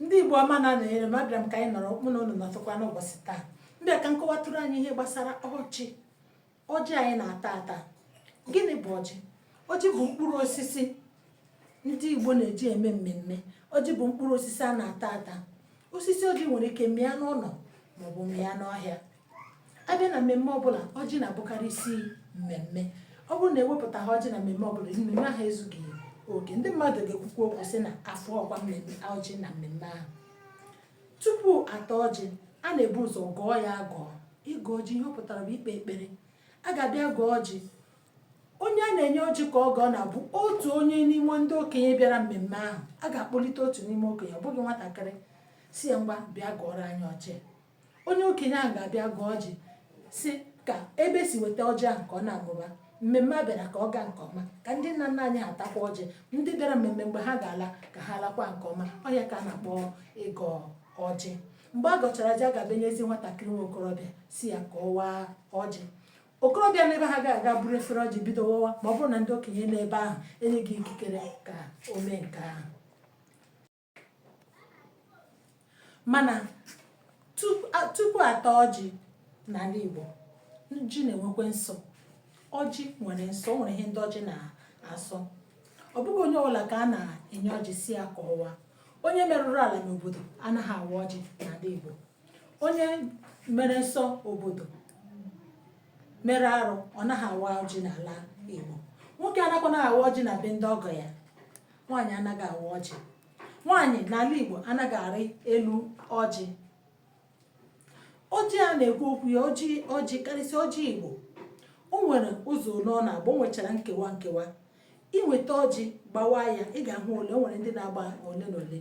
ndị Igbo ọma na-anọnyere m abịara m ka anyị nọrọ mụ na unu nọtụkwa n'ụbọchị taa m bịa ka m kọwatụrụ anyị ihe gbasara ọjị ọjị anyị na-ata ata gịnị bụ ọjị ọjị bụ mkpụrụ osisi ndị Igbo na-eji eme mmemme ọjị bụ mkpụrụ osisi a na-ata ata osisi ọjị nwere ike mịa n'ụlọ maọbụ mịa n'ọhịa a bịa na mmemme ọbụla ọjị na-abụkarị isi mmemme ọ bụrụ na ewepụtaghị ọjị na mmemme ọbụla mmemme ahụ ezughị oke ndị mmadụ ga-ekwukwa okwu sị na afọ ọkwa mmemme ọjị na mmemme ahụ tupu ata ọjị a na-ebu ụzọ gọọ ya agọ ịgọ ọjị ihe ọ pụtara bụ ikpe ekpere a ga-abịa gọọ ọjị onye a na-enye ọjị ka ọ gọọ na-abụ otu onye n'ime ndị okenye bịara mmemme ahụ a ga-akpọlite otu n'ime okenye ọ bụghị nwatakịrị sị ya ngwa bịa gọọrọ anyị ọjị onye okenye ahụ ga-abịa gọọ ọjị sị ka ebe e si weta ọjị ahụ ka ọ na-amụba mmemme a bịara ka ọ gaa nke ọma ka ndị nna nna anyị ha takwa ọjị ndị bịara mmemme mgbe ha ga-ala ka ha lakwa nke ọma ọ ya ka a na-akpọ ịgọ ọjị mgbe a gọchara ọjị a ga-abịa nyezi nwatakịrị nwa okorobịa sị ya ka ọ waa ọjị okorobịa n'ebe ahụ agaghị aga buru efere ọjị bido wawa ma ọ bụrụ na ndị okenye n'ebe ahụ enyeghị ikikere ka o mee nke ahụ mana tupu ata ọjị n'ala Igbo ọjị na-enwekwa nsọ ọjị nwere nsọ o nwere ihe ndị ọjị na-asọ ọ bụghị onye ọbụla ka a na-enye ọjị sị ya ka ọ waa onye merụrụ ala n'obodo anaghị awa ọjị n'ala Igbo onye mere nsọ obodo mere arụ ọ naghị awa ọjị n'ala Igbo nwoke anakwanaghị awa ọjị na be ndị ọgọ ya nwaanyị anaghị awa ọjị nwaanyị n'ala Igbo anaghị arị elu ọjị ọjị a na-ekwu okwu ya ọjị ọjị karịsịa ọjị Igbo o nwere ụzọ ole ọ na-agba o nwechara nkewa nkewa i nweta ọjị gbawa ya ị ga-ahụ ole o nwere ndị na-agba ole na ole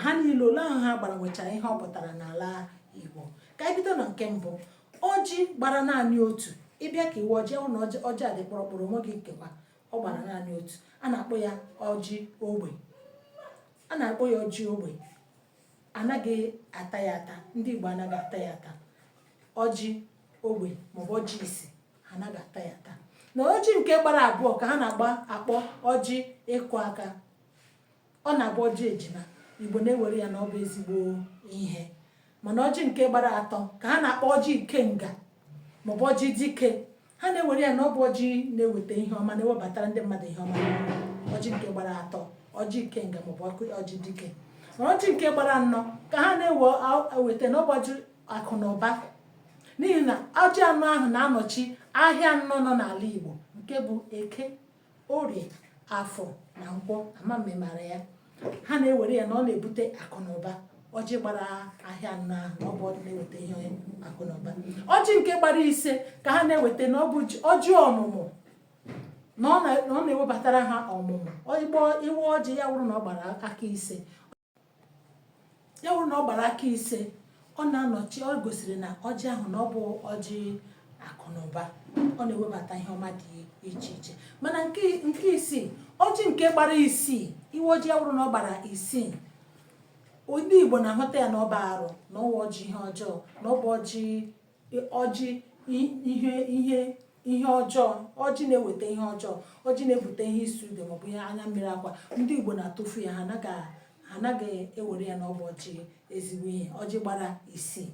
ha niile ole ahụ ha gbara nwechara ihe ọ pụtara n'ala Igbo ka anyị bido na nke mbụ ọjị gbara naanị otu ị bịa ka ị waa ọjị hụ na ọjị a dị kpụrụkpụrụ o nweghị nkewa ọ gbara naanị otu a na-akpọ ya ọjị ogbi a na-akpọ ya ọjị ogbi anaghị ata ya ata ndị Igbo anaghị ata ya ata ọjị ogbi maọbụ ọjị isi anaghị ata ya ata na ọjị nke gbara abụọ ka ha na-agba akpọ ọjị ịkụ aka Ọ na-abụ ọjị ejima, Igbo na-ewere ya na ọ bụ ezigbo ihe. Mana ọjị nke gbara atọ ka ha na-akpọ ọjị ikenga maọbụ ọjị dike. Ha na-ewere ya na ọ bụ ọjị na-eweta ihe ọma na-ewebatara ndị mmadụ ihe ọma ọjị nke gbara atọ ọjị ikenga maọbụ ọjị dike mana ọjị nke gbara anọ ka ha na-eweta na ọ bụ ọjị akụ na ụba n'ihi na ọjị anọ ahụ na-anọchi ahịa anọ nọ n'ala Igbo nke bụ eke orie afọ na nkwọ ama mme mara ya ha na-ewere ya na ọ na-ebute akụ na ụba ọjị gbara ahịa anọ na ọ bụ ọjị na-eweta ihe akụ na ụba ọjị nke gbara ise ka ha na-eweta na ọ bụ ọjị ọmụmụ na ọ na-ewebatara ha ọmụmụ Igbo i wee ọjị ya wụrụ na ọ gbara aka ise ya bụrụ na ọ gbara aka ise ọ na-anọchi ọ gosiri na ọjị ahụ na ọ bụ ọjị akụ na ụba ọ na-ewebata ihe ọma dị iche iche mana nke nke isii ọjị nke gbara isii i wee ọjị ya bụrụ na ọ gbara isii ndị Igbo na-ahụta ya na ọ bụ arụ na ọ wụ ọjị ihe ọjọọ na ọ bụ ọjị ọjị ihe ihe ihe ọjọọ ọjị na-eweta ihe ọjọọ ọjị na-ebute ihe ịsụ ude maọbụ ihe anya mmiri akwa ndị igbo na-atụfu ya ha anaghị ewere ya na ọ bụ ọjị ezigbo ihe ọjị gbara isii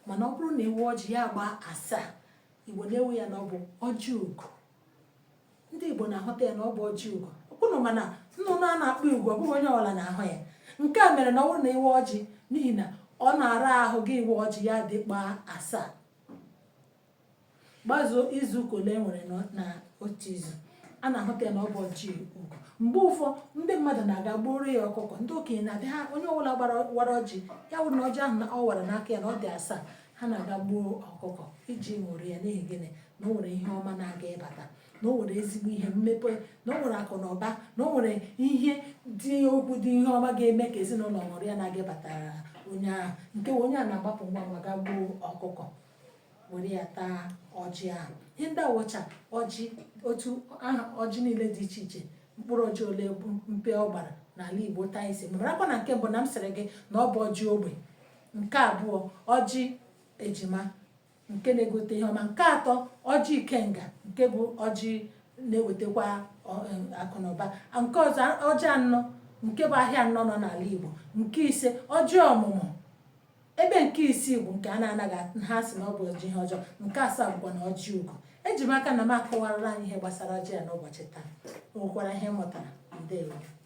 mana ọ bụrụ na e wee ọjị ya agbaa asaa igbo na-ewe ya na ọ bụ ọjị ugo ndị Igbo na-ahụta ya na ọ bụ ọjị ugo unu ma na nnụnụ a na-akpọ ugo ọ bụghị onye ọbụla na-ahụ ya nke a mere na ọ bụrụ na i wee ọjị n'ihi na ọ na-ara ahụ gị iwe ọjị ya dị gbaa asaa gbazuo izu ụka ole e nwere na otu izu a na-ahụta ya na ọ bụ ọjị ugo mgbe ụfọdụ ndị mmadụ na-aga gbuoro ya ọkụkọ ndị okenye na-adị ha onye ọbụla wara ọjị ya wụrụ na ọjị ahụ na ọ wara n'aka ya na ọ dị asaa ha na-aga gbuo ọkụkọ iji ṅụrịa n'ihi gịnị na o nwere ihe ọma na-aga ịbata na o nwere ezigbo ihe mmepe na o nwere akụ na ụba na o nwere ihe dị ukwuu dị ihe ọma ga-eme ka ezinụlọ ṅụrịa na-aga ịbatara onye ahụ nke onye a na-agbapụ ngwa ngwa gaa gbuo ọkụkọ were ya taa ọjị ahụ ihe ndị awụcha ọjị otu aha ọjị niile dị iche iche mkpụrụ ọjị ole mpe ọ gbara n'ala Igbo taa isi marakwa na nke mbụ na m sịrị gị na ọ bụ ọjị ogbi nke abụọ ọjị ejima nke na-ebute ihe ọma nke atọ ọjị ikenga nke bụ ọjị na-ewetakwa akụ na ụba nke ọzọ ọjị anọ nke bụ ahịa anọ nọ n'ala Igbo nke ise ọjị ọmụmụ ebe nke isii bụ nke a na-anaghị ha si na ọ bụ ọjị ihe ọjọọ nke asaa bụkwanụ ọjị ugo eji m aka na m akọwarala anyị ihe gbasara ọjị a n'ụbọchị taa o nwekwara ihe ị mụtara ndewo